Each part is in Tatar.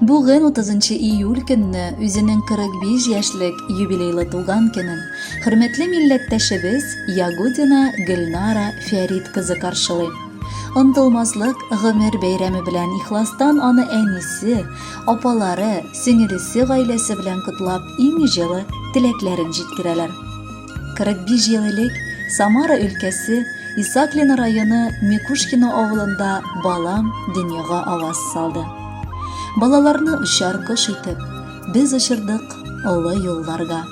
Бүген 30 июль көнне үзенең 45 яшьлек юбилейлы туган көнен хөрмәтле милләттәшебез Ягудина Гөлнара Фәрид кызы каршылый. Онтылмаслык гомер бәйрәме белән ихластан аны әнисе, апалары, сеңелесе гаиләсе белән котлап иң җылы теләкләрен җиткерәләр. 45 ел элек Самара өлкәсе Исаклино районы Микушкино авылында балам дөньяга аваз салды. Балаларны очар кош итеп, без очырдык олы юлларга.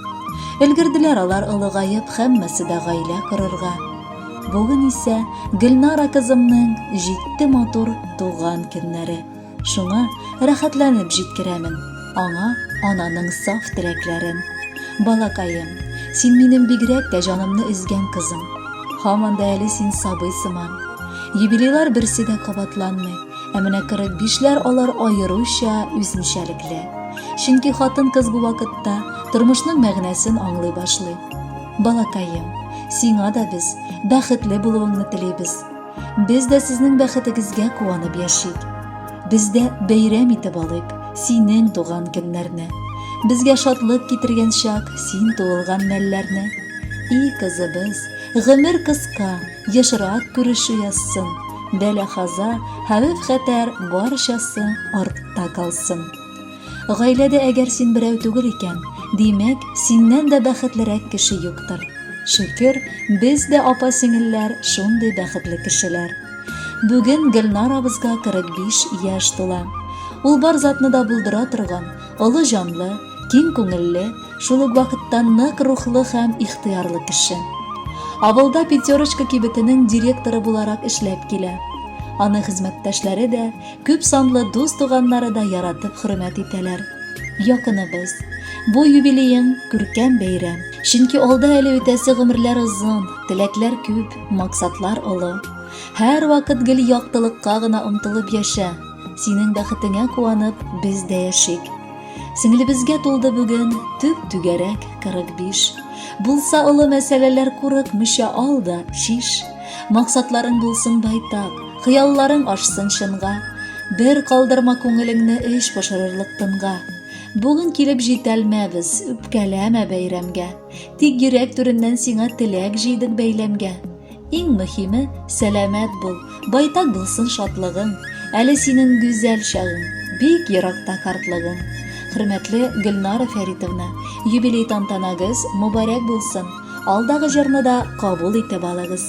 Өлгерделәр алар олыгаеп, һәммәсе дә гаилә корырга. Бүген исә Гөлнара кызымның җитте матур туган көннәре. Шуңа рәхәтләнеп җиткерәмен аңа ананың саф теләкләрен. Балакаем, син минем бигрәк тә җанымны өзгән кызым. Һаман да әле син сабый сыман. Юбилейлар берсе дә кабатланмый, ә менә 45-ләр алар аеруча үзенчәлекле. Чөнки хатын-кыз бу вакытта тормышның мәгънәсен аңлый башлый. Балакаем, сиңа да без бәхетле булуыңны телибез. Без дә сезнең бәхетегезгә куанып яшик. Без дә бәйрәм итеп алыйк синең туган көннәрне. Безгә шатлык китергән чак син туылган мәлләрне. И кызыбыз, гомер кыска, ешрак күрешү язсын. Бәла-хаза, хәвеф-хәтәр барчасы артта калсын. Гаиләдә әгәр син берәү түгел икән, димәк, синнән дә бәхетлерәк кеше юктыр. Шөкер, без дә апа-сеңелләр шундый бәхетле кешеләр. Бүген Гөлнар абызга 45 яшь тула. Ул бар затны да булдыра торган, олы җанлы, киң күңелле, шул ук вакытта нык рухлы һәм ихтыярлы кеше. Авылда Пятерочка кибетенең директоры буларак эшләп килә. Аны хезмәттәшләре дә, Күп санлы дус-туганнары да яратып хөрмәт итәләр. Якыныбыз, бу юбилеең күркәм бәйрәм. Чөнки алда әле үтәсе гомерләр озын, теләкләр күп, максатлар олы. Һәрвакыт гел яктылыкка гына омтылып яшә. Синең бәхетеңә куанып, без дә яшик. Сеңлебезгә тулды бүген төп-түгәрәк 45. Булса олы мәсьәләләр курыкмыйча ал да чиш. Максатларың булсын байтак. Хыялларың ашсын чынга, Бер калдырма күңелеңне Өч пошырырлык тынга. Бүген килеп җитәлмәбез, үпкәләмә бәйрәмгә. Тик йөрәк түреннән сиңа теләк җыйдык бәйләмгә. Иң мөһиме, сәламәт бул, байтак булсын шатлыгың. Әле синең гүзәл чагың, бик еракта картлыгың. Хөрмәтле Гөлнара Фәритовна, юбилей тантанагыз мубарәк булсын. Алдагы җырны да кабул итеп алыгыз.